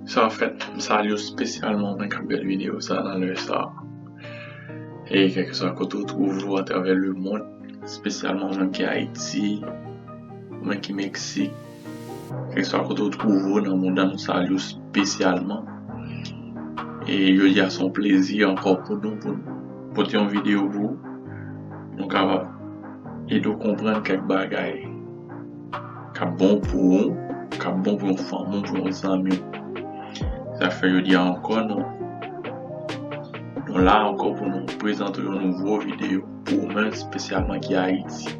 Sa an fèt, m salye w spesyalman mwen kap gad videyo sa nan lè sa e kèlkeswa kote ou twouve w atravè lemond spesyalman mwen ki Ayiti mwen ki Meksik kèlkeswa kote ou twouve w nan mond lan nou salye w spesyalman e jodi a se yon plezi ankò pou nou pou n pote yon videyo pou ou nou kapab ede w konprann kèk bagay. k ap bon pou ou, k ap bon pou yon fanmi w, pou yon zanmi w. Se sa k fè jodi a ankò nou la ankò pou nou prezante w yon nouvo videyo pou ou menm spesyalman ki Ayiti.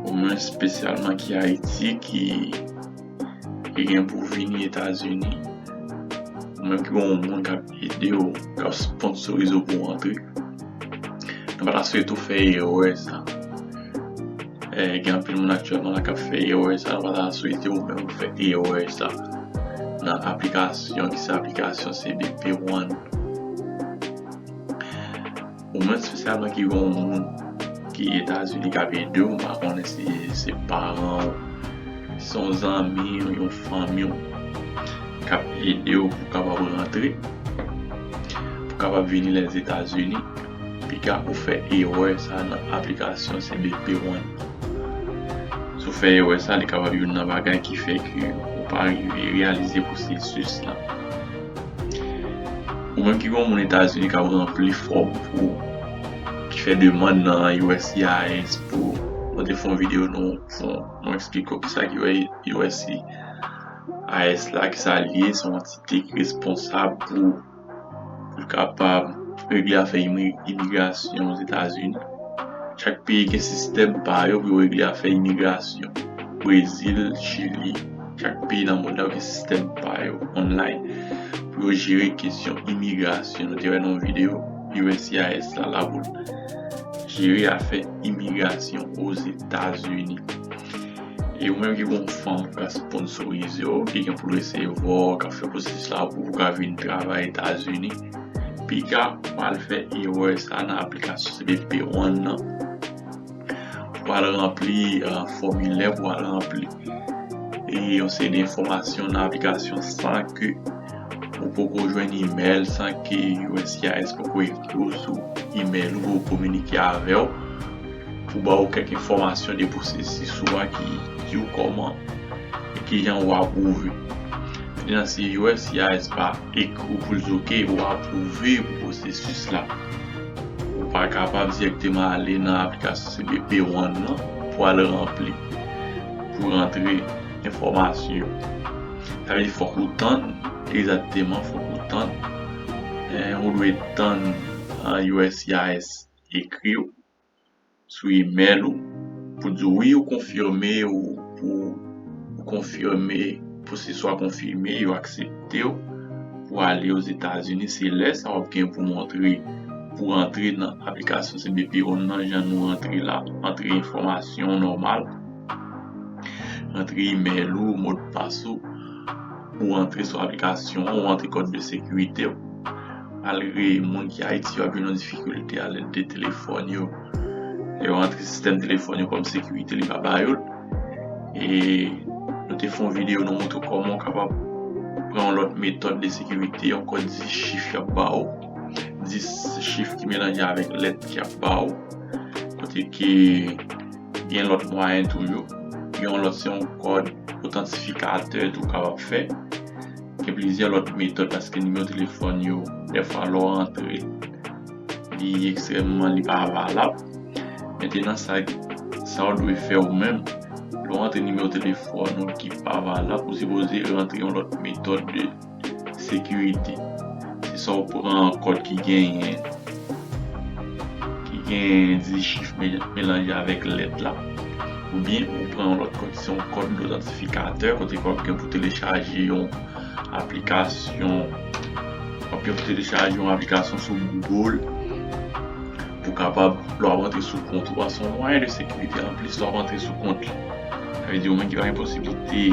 Ou menm spesyalman ki Ayiti ki gen pou vini Etazini. Ou menm ki gen yon moun k ap. ede w, k ap sponsorize w pou w antre. Nou pa ta swete w fè erè sa. Gen anpil moun aktyèlman la k ap fè erè sa, nou pa ta swete w menm fè erè sa. Nan aplikasyon ki se aplikasyon cbp One. Ou mwen spesyalman ki gen yon moun ki etazini kap edew m pa konnen si se paranw si se yon zanmiw yon fanmiw kap edew pou kapab rantre pou kapab vini les etats unis piga ou fè erè sa nan aplikasyon cbp one nan si w fè erè sa li kapab youn nan bagay ki fè ke ou pa rive reyalize pwosesis la. Ou menm ki gon moun etazini kap ranpli fòm pou ki fè demand nan uscis pou mwen te fon video nou fon mwen eksplike ou kisa ki uscis la kisa li ye son antite ki responsab pou pou kapab regle afè imigrasyon ozetazini chak peyi gen sistèm pa yo pou yo regle afè imigrasyon brezil chili Chak peyi nan mond lan gen sistèm pa yo online pou yo jere kesyon imigrasyon. Nou te wè nan yon videyo uscis la la pou l jere afè imigrasyon Ozetazini. E ou menm ki gon fanm ou ka sponsorize w ki gen pou l eseye vwa w ka fè pwosesis la pou ou ka vin travay Etazini. Piga pa al fè erè sa nan aplikasyon CBP One nan. Ou pral ranpli fòmilè pou al ranpli yon seri de enfòmasyon nan aplikasyon san ke ou poko jwenn imèl, san ke uscis poko ekri w sou imèl ou, poko kominike avè w pou ba ou kèk enfòmasyon de pwosesis ou a ki di w kòman e kijan ou apwouve. Nan si uscis pa. Ek ou pou l di ok ou apwouve pou pwosesis la. Ou pa kapab dirèkteman ale nan aplikasyon cbp ou an nan pou al ranpli, pou rantre enfòmasyon yo. Sa vle di fòk ou tann, egzakteman fòk ou tann, ou dwe tann USCIS ekri w. sou email ou pou di wi ou konfime ou pou ou konfime pou se swa konfime yo aksepte ou pou ale oz etazini se lè sa wap gen pou montre pou rantre nan aplikasyon cbp one nan jan nou rantre la rantre enfòmasyon nòmal rantre email ou modpas ou ou rantre sou aplikasyon ou rantre kòd de sekirite ou Malgre moun ki Ayiti yo ap jwenn yon difikilte a lèt de telefòn yo, lè yo antre sistèm telefòn yo kòm sekirite li pa ba yo l. E nou te fè yon videyo nou montre w kòman ou kapab pran yon lòt metòd de sekirite yon kòd 10 chif y ap ba w, 10 chif ki melanje avèk lèt y ap ba w kote ke gen lòt mwayen tou yo. Gen yon lòt se yon kòd otantifikatè tou w kapab fè. Gen plizyè lòt metòd paske nimewo telefòn yo dèfwa lè w antre li ekstrèmman li pa valab. Mentenan sa sa w dwe fè ou menm lè w antre nimewo telefòn ou ki pa valab ou sipoze rantre yon lòt metòd de sekirite se sa w pran kòd ki genyen ki gen dizit chif melanje avèk lèt la, oubyen ou pran yon lòt kòd ki se yon kòd dotantifikatè kote wap gen pou telechaje yon aplikasyon wap gen pou telechaje yon aplikasyon sou Google pou kapab lè wap antre sou kont ou a se yon mwayen de sekirite anplis lè wap antre sou kont li sa vle di ou menm ki pa gen posiblite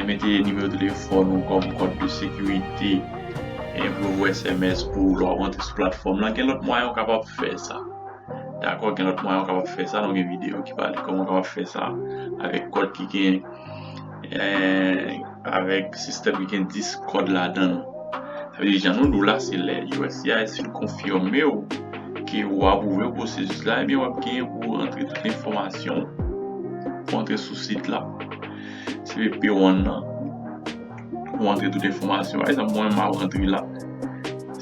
Mete nimewo telefòn ou kòm kòd de sekirite pou yo voye sms pou ou lè w ap antre sou platfòm lan. Gen lòt mwayen ou kapab fè sa. Dakò, gen lòt mwayen ou kapab fè sa. Nou gen videyo ki pale kòman ou kapab fè sa avèk kòd ki gen avèk sistèm ki gen 10 kòd ladan l. Sa vle di jan nou di w la se lè uscis fin konfime w ke ou apwouve pwosesis la ebyen w ap gen pou antre tout enfòmasyon ou pou antre sou sit la. Se ve P1 nan. Ou antre tout enfomasyon. Par exemple, mwen ma antre la.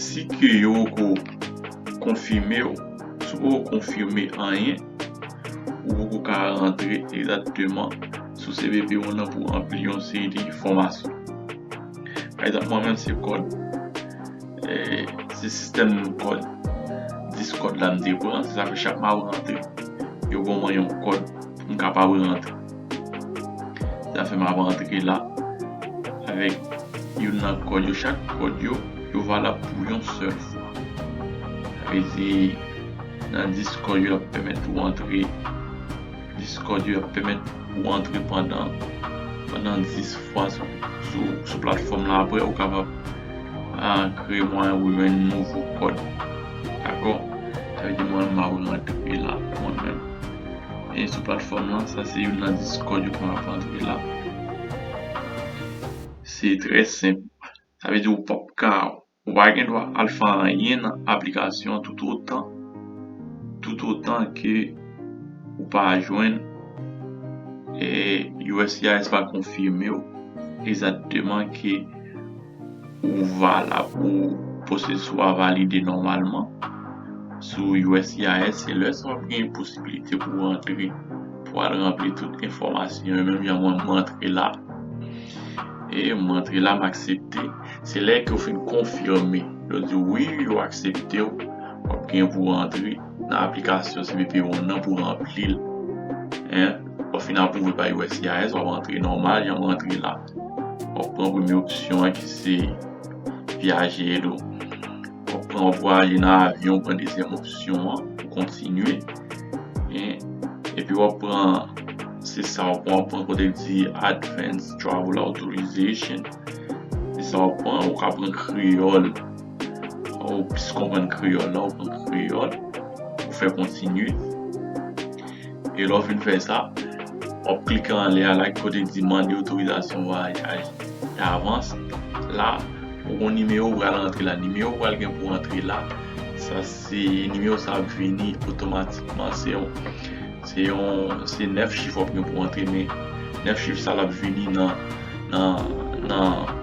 Si ke yo ko konfime ou, si ou ko konfime anyen, ou pou ko ka antre egzatteman sou se ve P1 nan pou anpli yon se de enfomasyon. Par exemple, mwen men se kod. Se sistem kod. Dis kod la m te pran. Se sa fe chak ma ou antre. Yo bon mwen yon kod. M kapab rantre. Zafè m ap rantre la avèk youn nan kòd yo. Chak kòd yo, yo valab pou yon sèl fwa. Sa vle di, nan 10 kòd yo, y ap pèmèt ou antre. 10 kòd yo, y ap pèmèt ou antre pandan 10 fwa sou platfòm la. Apre, ou kapab kreye mwayen pou jwenn nouvo kòd. Dakò? Sa vle di mwen menm m ap rantre la mwen menm. e sou platfòm lan sa se youn nan discord yo konn ap antre la se trè senp sa vle di ou pap ka ou pa gen dwa al fè anyen nan aplikasyon an tout otan tout otan ke ou pa jwenn uscis pa konfimew egzakteman ke. ou valab ou pwosesis ou a valide nòmalman sou uscis se lè sa w ap gen posibilite pou w rantre pou al ranpli tout enfòmasyon yo menm jan mwen m rantre la e m rantre la m aksepte se lè ke w fin konfime yo di w wi yo aksepte w w ap gen pou w rantre nan aplikasyon cbp one nan pou w ranpli l lè w fin apwouve pa uscis w ap rantre nòmal jan w rantre la. Wap pran premye opsyon an ki se vyaje ed ou. Wap pran wap vwaje nan avyon pran dezyèm opsyon an pou kontinye. Epi wap pran se sa wap pran wap pran kote ki di advance travel authorization. Se sa wap pran ou ka pran kreyòl. Ou plis konprann kreyòl la ou pran kreyòl. Ou fè kontinye. E lè w fin fè sa, w ap klike anlè a la ki kote ki di mande otorizasyon vwayaj davans. La, ou gen yon nimewo ou pral antre la. Nimewo ou pral gen pou w antre la, sa se nimewo sa ap vini otomatikman. Se yon, se yon, se 9 chif w ap gen pou w antre men 9 chif sa l ap vini nan, nan, nan.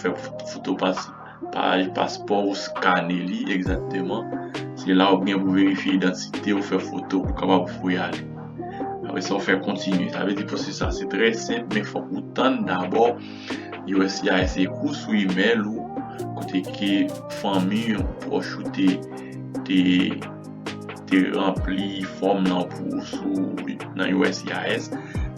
fè foto paj paspò ou skane li egzakteman se la ou gen pou verifye idantite ou fè foto pou kapab voye ale apre sa ou fè kontinye sa vle di pwosesis la se trè senp men fòk ou tann dabò uscis ekri w sou email ou kote ke fanmi ou pwòch ou te te ranpli fòm lan pou ou sou nan uscis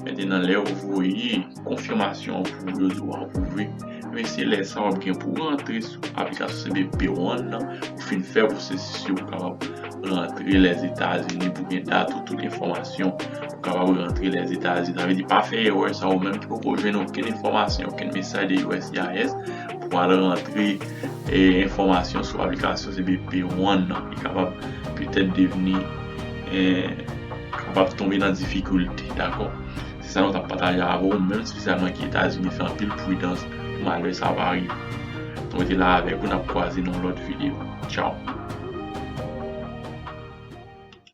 mètenan lè ou voye Konfimasyon an pou rezo a apwouve, ebyen se lè sa wap gen pou rantre sou aplikasyon cbp One nan, ou fin fè pwosesis yo pou kapab rantre Lèzetazini, pou gen dat ou, tout enfòmasyon pou kapab rantre Lèzetazini. Sa vle di pa fè erè sa ou menm ki poko jwenn okenn enfòmasyon, okenn mesaj de uscis pou al rantre enfòmasyon sou aplikasyon cbp One nan e kapab petèt devni kapab tonbe nan difikilte dakò. Se sa nou tap pataje avè w menm spesyalman ki etazini fè anpil pridans pou malè sa pa rive nou rete la avèk ou nap kwaze nan yon lòt video tchaww.